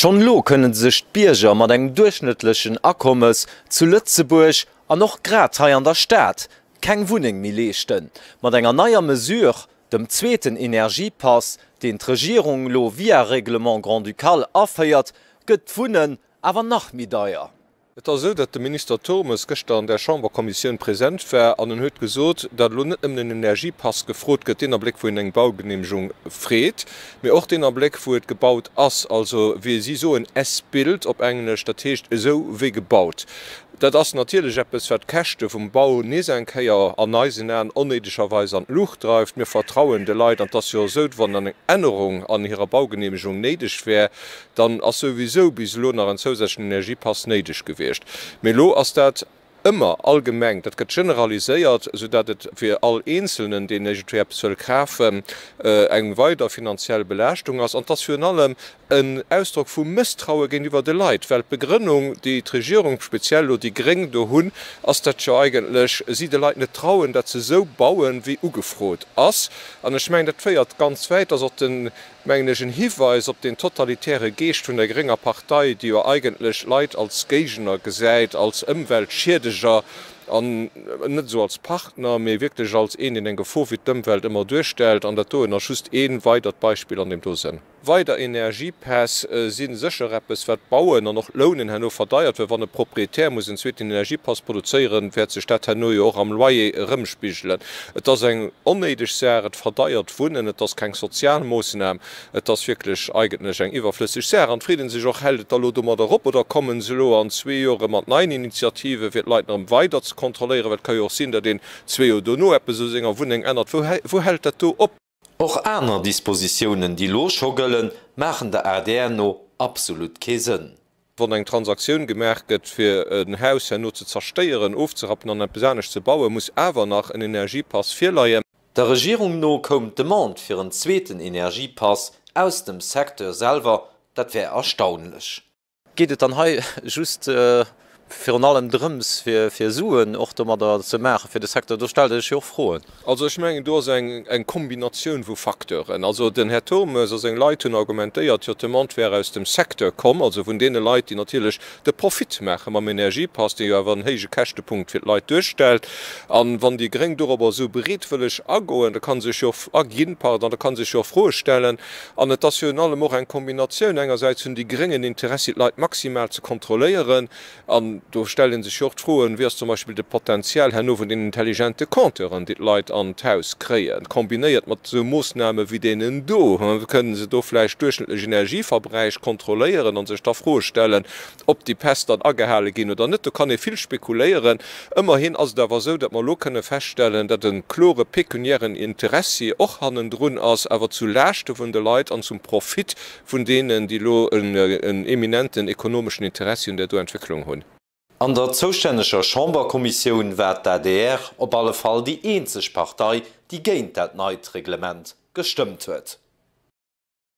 Schonn elo kënne sech d'Bierger mat engem duerchschnëttlechen Akommes zu Lëtzebuerg an och grad hei an der Stad keng Wunneng méi leeschten. Mat enger neier Mesure, dem zweeten Energiepass, deen d'Regierung elo via Règlement grand-ducal aféiert, gëtt d'Wunnen awer nach méi deier. Et ass esou, datt de Minister Turmes gëschter an där Chamberkommissioun present war an en huet gesot, datt elo net nëmmen en Energiepass gefrot gëtt, deen Abléck, wou een eng Baugeneemegung freet, mee och deen Abléck, wou et gebaut ass. Also wéi si soen, as-built op Englesch, dat heescht esou wéi gebaut. Dat ass natierlech eppes, wat d'Käschte vum Bau nees eng Kéier an eisen Aen onnéidegerweis an d'Luucht dreift. Mir vertrauen de Leit, an et ass jo esou, wann dann eng Ännerung an hirer Baugeneemegung néideg wär, dann ass souwisou bis elo nach en zousätzlechen Energiepass néideg gewiescht. Mee elo ass dat ëmmer allgemeng, dat gëtt generaliséiert, soudatt et fir all Eenzelnen, deen iergendwéi eppes wëll kafen, eng weider finanziell Belaaschtung ass. An et ass virun allem en Ausdrock vu Mësstraue géintiwwer de Leit, well d'Begrënnung, déi d'Regierung, speziell elo déi Gréng do hunn, ass dat jo eigentlech, si de Leit net trauen, dat se esou bauen, wéi ugefrot ass. An ech mengen, dat féiert ganz wäit, dass och den mengen ech, en Hiweis op deen totalitäre Geescht vun der grénger Partei, déi jo eigentlech Leit als Géigner gesäit, als Ëmweltschiedeger an net esou als Partner, mee wierklech als een, deen eng Gefor fir d'Ëmwelt ëmmer duerstellt. An dat doen ass just ee weidert Beispill an deem do Sënn. Weider Energiepäss si sécher eppes, wat d'Bauen an och d'Lounen herno verdeiert, well wann e Proprietär muss en zweeten Energiepass produzéieren, wäert sech dat herno jo och am Loyer erëmspigelen. Et ass eng onnéideg Saach, et verdeiert d'Wunnen, et ass keng Sozialmoosnam, et ass wierklech eigentlech eng iwwerflësseg Saach. An freet ee sech och, Hält et da lo domadder op oder kommen se elo an zwee Joer erëm mat neien Initiativen, fir d'Leit nach erëm weider ze kontrolléieren? Well et ka jo och sinn, datt een zwee Joer dono eppes u senger Wunneng ännert. Wou hält dat do op? Och aner Dispositiounen, déi lo scho gëllen, maachen der adr no absolut kee Sënn. Wann eng Transaktioun gemaach gëtt, fir en Haus herno ze zerstéieren, ofzerappen an eppes anescht ze bauen, muss awer nach en Energiepass virleien. Der Regierung no koum d'Demande fir en zweeten Energiepass aus dem Secteur selwer. Dat wär erstaunlech. Geet et dann hei just virun allem drëms, fir Suen och domadder ze maachen, fir de Secteur? Do stellt ee sech jo och Froen. Also ech mengen, do ass eng Kombinatioun vu Facteuren. Also den Här Turmes a seng Leit hunn argumentéiert, jo, d'Demande wär aus dem Secteur komm, also vun deene Leit, déi natierlech de Profit maache mam Energiepass, dee jo awer en héije Käschtepunkt fir d'Leit duerstellt. A wann déi gréng dorobber esou bereetwëlleg agoen, da ka sech jo och erginn, pardon, da ka sech jo och Froe stellen, An et ass virun allem och eng Kombinatioun, engersäits hunn déi Gréngen Interessi d'Leit maximal ze kontrolléieren, an do stellt ee sech jo och d'Froen, wéi ass zum Beispill de Potenzial herno vun den intelligente Compteuren, déi d'Leit an d'Haus kréien, kombinéiert mat esou Moossname wéi deenen do? Kënnen se do vläicht duerchschnëttlech Energieverbräich kontrolléieren a sech da Froe stellen, Ob déi Päss dann agehale ginn oder net, do kann ee vill spekuléieren. Ëmmerhin ass et awer esou, datt mer elo kënne feststellen, datt e klore pekuniären Interessi och hannendrun ass, awer zu Laaschte vun de Leit an zum Profit vun deenen, déi elo en eminenten ekonomeschen Interessi un där do Entwécklung hunn. An der zoustänneger Chamberkommissioun war d'ADR op alle Fall déi eenzeg Partei, déi géint dat neit Reglement gestëmmt huet.